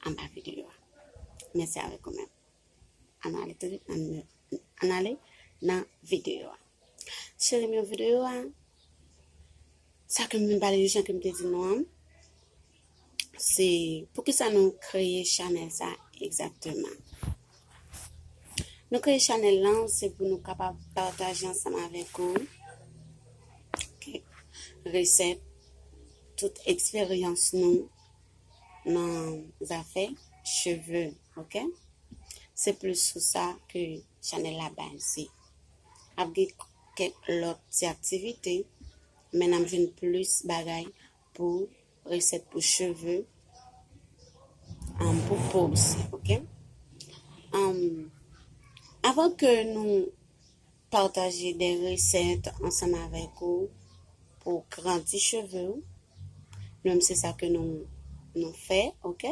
anba video a. Mèsi avèk ou menm. An nou ale touswit nan an ale nan video a. Cheri mwen video a sa ke mwen pale jan ke mwen te di nou an se pou ki sa nou kreye chanel sa egzakteman. Nou kreye chanel lan se pou nou kapab pataje ansanm avèk ou kèk resèt tout eksperyans nou nan zafè cheve ok se plis sou sa ke chanèl la baze ap gen kèk lòt ti aktivite men nap jwenn plis bagay pou resèt pou cheve an pou po osi ok an avan ke nou Pataje de resèt ansanm avèk ou pou w grandi cheve w. Nou menm se sa ke nou nou fè ok.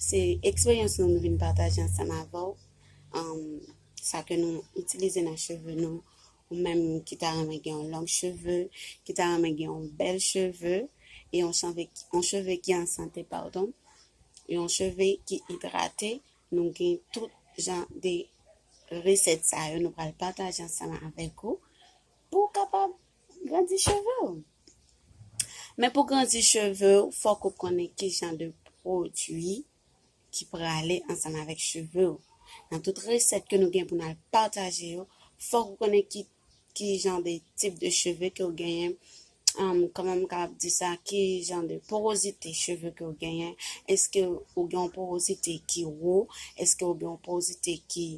Se eksperyans nou nou vin pataje ansanm avè w. Um, sa ke nou itilize nan cheve nou. Ou menm ki ta renmen gen yon long cheve, ki ta renmen gen yon bèl cheve, e yon cheve, yon cheve ki an sante pardon. Yon cheve ki idrate, Nou gen tout jan de resèt sa yo nou pral pataje ansanm avèk ou pou w kapab grandi cheve w. Men pou grandi cheve w, fòk ou konnen ki jan de pwodwi ki prale ansanm avèk cheve w. Nan tout resèt ke nou gen pou nou al pataje yo, fòk ou konnen ki ki jan de tip de cheve ke ou genyen, um, kòman m kapab di sa, ki jan de porozite cheve ke ou genyen, eske ou gen yon porozite ki wo, eske ou gen yon porozite ki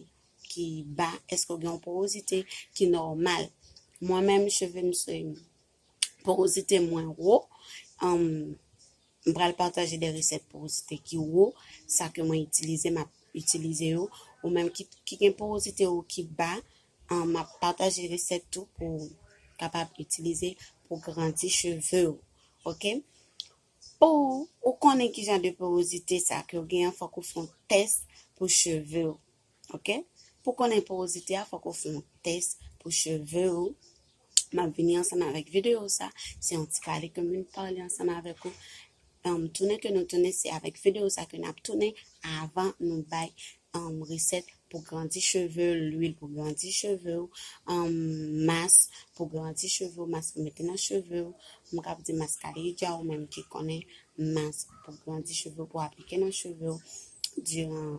ki ba, eske ou gen yon porozite ki nòmal. Mwen menm cheve m se porozite mwen wo, m pral pataje de resèt porozite ki wo, sa ke mwen itilize, m ap itilize yo, ou menm ki gen porozite ou ki ba, m ap pataje resèt tou pou kapab itilize pou grandi cheve ou, ok. Pou ou konnen ki jan de porozite sa ke ou gen an, fòk ou fon tès pou cheve ou. Ok pou konnen porozite a fòk ou fè yon tès pou cheve ou map vini ansanm avèk video sa se yon ti pale ke mwen pale ansanm avèk ou um, tounen ke nou tounen se avèk video sa ke nap tounen avan nou bay um, resèt pou grandi cheve, lwil pou grandi cheve ou, um, mas pou grandi cheve ou, mas pou mete nan cheve ou, m kap di mas kalidja ou menm ki konnen mas pou grandi cheve ou pou aplike nan cheve ou, diran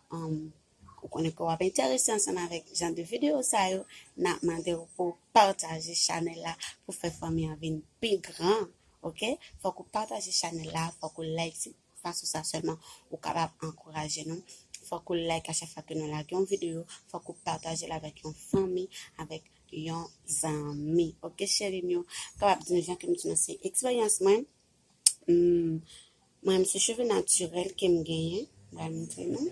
Humm ou konnen ke wap enterese ansanm avèk jan de video sa yo, nap mandew pouw pataje chanèl la pou fè fanmi an vin pi gran ok, fòk ou pataje chanèl la, fòk ou like se fason sa sèlman ou kapab ankouraje nou, fòk ou like a chak fwa ke nou lage yon video, fòk ou patajel avèk yon fanmi, avèk yon zanmi ok cheri m yo, m kapab di nou jan kem di nou se eksperyans mwen, Mwen se cheve natirèl ke m genyen, bal montre nou.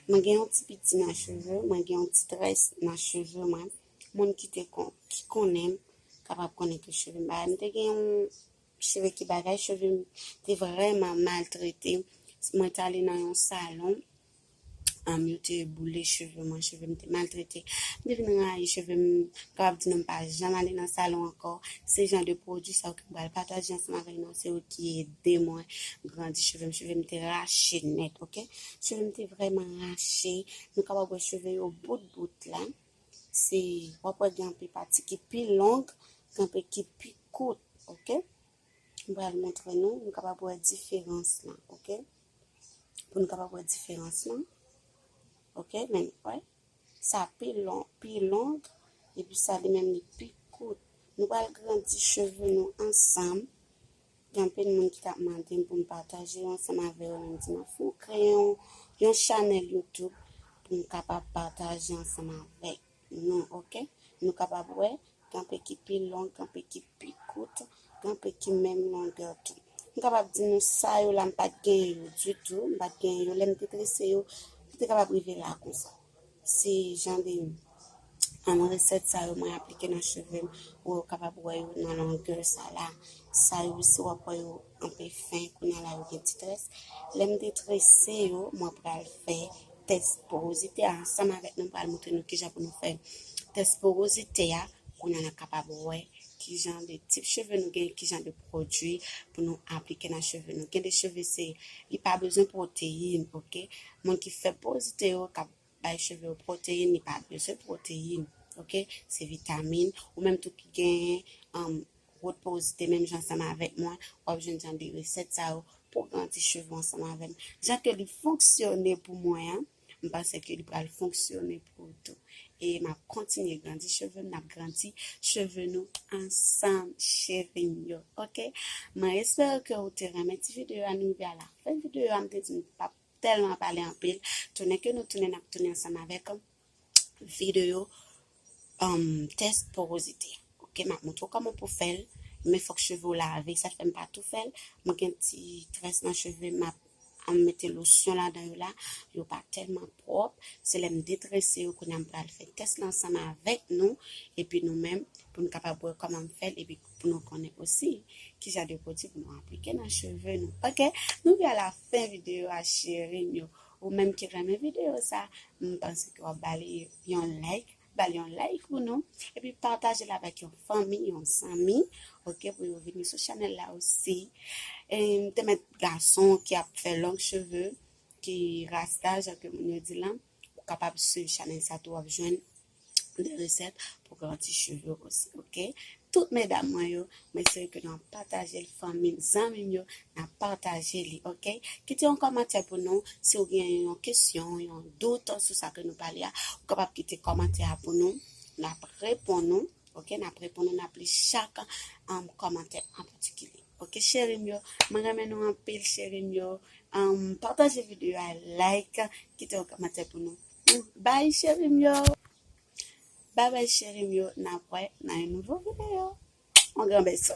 Mwen gen yon ti piti nan cheve, mwen gen yon ti tres nan cheve mwen. Moun ki te kon, ki konnen m, kapab konnen ke cheve m bagay. M te gen yon cheve ki bagay, cheve m te vreman maltrete. Mwen tale nan yon salon, Yo te boule cheve mwen, cheve m te maltrete. M te vin rayi cheve m, m kapab di nou m pa janm ale nan salon ankò. Se jan de pwodui sa yo ke m pral pataje ansanm avèk nou, se yo ki ede mwen grandi cheve m. Cheve m te rache nèt ok, cheve m te vrèman rache, nou kapab wè cheve yo bout bout la. Se, w ap wè gen anpe pati ki pi long, gen anpe ki pi kout ok. M pral montre nou, nou kapab wè diferans lan, ok? Pou nou kapab wè diferans lan, ok? Men, wè, sa pi long, pi long, epi sa li menm li pi kout. Nou pral grandi cheve nou ansanm. Gen anpil moun ki tap mande m pou m pataje yo ansanm avè yo, men m di m fou kreyon yon chanèl YouTube pou m kapab pataje ansanm avèk. Non ok nou kapab wè gen pe ki pi long gen pe ki pi kout gen pe ki menm longè tou m kapab di nou sa yo la m pat gen yo ditou m pat gen yo lè m te trese yo m te kapab rive la konsa se jan de an resèt sa yo mwen aplike nan cheve m ou yo kapab wè yo nan longè sa la sa yo si w ap wè yo anpe fen kounye a la yo gen ti tres lè m te trese yo mwen pral fè Tès porozite a, ansanm avèk nou pral montre nou kijan pou nou fè tès porozite a, kounya nap kapab wè kijan de tip cheve nou gen, kijan de pwodui pou nou aplike nan cheve nou. Gen de cheve se li pa bezwen proteyin, ok? Moun ki fè porozite yo kap bay cheve yo proteyin, li pa bezwen proteyin, ok? Se vitamin ou menm tou ki gen um, Rod pouw zite menm jan ansanm avèk mwen wap jwenn jan de resèt sa yo pouw garanti cheve ou ansanm avèm jan ke li fonksyone pou mwen an m panse ke li pral fonksyone pou ou tou e map kontinye grandi chevem nap grandi cheve nou ansanm cherim yo ok mwen espere ke ou te renmen ti video a nou rive a la fen video a m te di m pap tèlman pale anpil tounen ke nou tounen nap tounen ansanm avèk video um test porosité ok map montre kòman pou fèl men fòk cheve ou lave sa fèm pa tou fèl mwen gen ti tres nan cheve map an mete lotion la dan yo la yo pa tèlman pwòp se lèm detrese yo kounam pral fè test lan ansanm avèk nou epi nou menm pou nou kapab wè kòman fèl epi pou nou konnen osi ki jan de produit pou nou aplike nan cheve nou ok nou gen la fin video a chéri yo Ou menm ki renmen video sa, m panse ke wap ba li yon like, ba li yon like pou nou, epi pataje l avèk yon fanmi, yon zanmi, ok, pou yo vini sou chanèl la osi. E m te met gason ki ap fè long cheve, ki rasta, jan ke moun yo di lan, ou kapab swiv chanèl sa tou wap jwenn pou de resèt pou grandi cheve ou osi ok tout medam mwen yo mwen se ke nan pataje l fanmi m zanmi m yo nan pataje li ok kite yon kòmantè pou nou si ou gen yon kesyon yon dout sou sa ke nou pale a ou kapab kite kòmantè a pou nou nap repon nou ok nap repon nou nap li chak an um, kòmantè an patikilye ok cheri m yo mwen renmen nou anpil cheri m yo um, pataje video a like kite yon kòmantè pou nou Bye cheri m yo. Bye bye cheri m yo nap wè nan yon nouvo video. On gran beso.